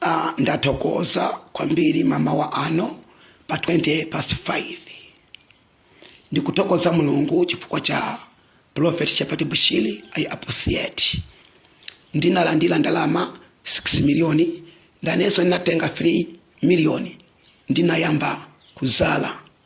Uh, ndathokoza kwambiri mamawa ano pa 20 past 5 ndikuthokoza mulungu chifukwa cha prophet shepherd bushiri I appreciate ndinalandira ndalama 6 miliyoni ndinenso ndinatenga 3 miliyoni ndinayamba kuzala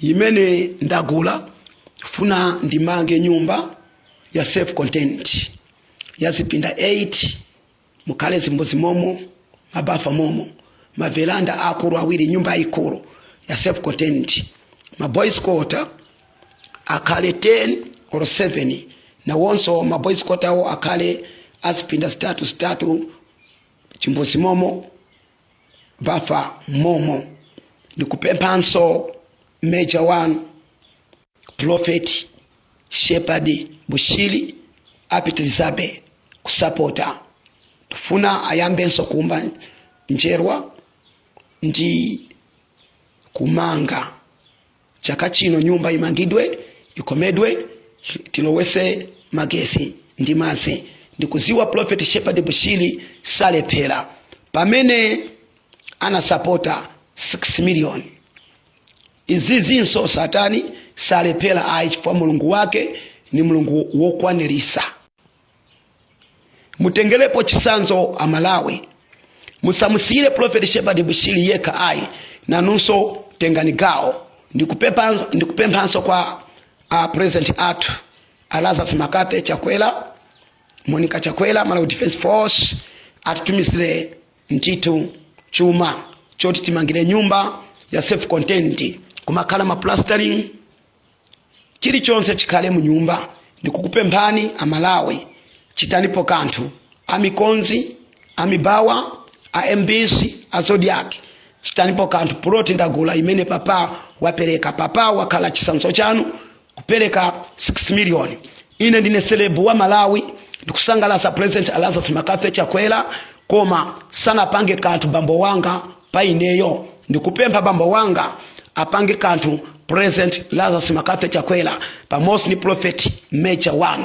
imene ndagula funa ndimange nyumba ya self content ya zipinda 8 mukhale zimbuzi momo mabafa momo maveranda akulu awiri nyumba yaikulu ya self content maboys quarter akhale 10 or 7 nawonso maboys quarter awo akhale azipinda zitatu zitatu chimbuzi momo bafa momo ndikupemphanso major 1 profeti shepherd bushiri apitirizabe kusapota tifuna ayambenso kuumba njerwa ndi kumanga chaka chino nyumba imangidwe ikomedwe tilowese magesi ndi mazi ndikuziwa prophet shepherd bushiri salephera pamene anasapota 6 million izizinso satani salephera ayi chifukwa mulungu wake ni mulungu wokwanirisa mutengelepo chisanzo amalawi musamusiyire profeti shepherd bushiri yekha ayi nanunso tengani gawo ndikupemphanso kwa a uh, president athu a lazarus mccarthy chakwera monica chakwera malawi defense force atitumizire ntitu chuma choti timangire nyumba ya self content kumakhala maplastering chilichonse chikhale mu nyumba ndikukupemphani amalawi chitanipo kanthu a mikozi a mibawa a mbc a zodiak chitanipo kanthu puloti ndagula imene papa wapereka papa wakhala chisanzo chanu kupereka 6 million ine ndine selebu wa malawi ndikusangalasa president lazarus mccarthy chakwera koma sanapange kanthu bambo wanga pa ineyo ndikupempha bambo wanga apange kanthu president lazarus mccarthy chakwera pamodzi ndi prophet major 1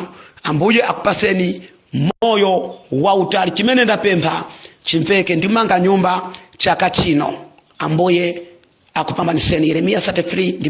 ambuye akupaseni moyo wautali chimene ndapempha chimveke ndimanga nyumba chaka chino ambuye akupambaniseni yeremiya 33 ndi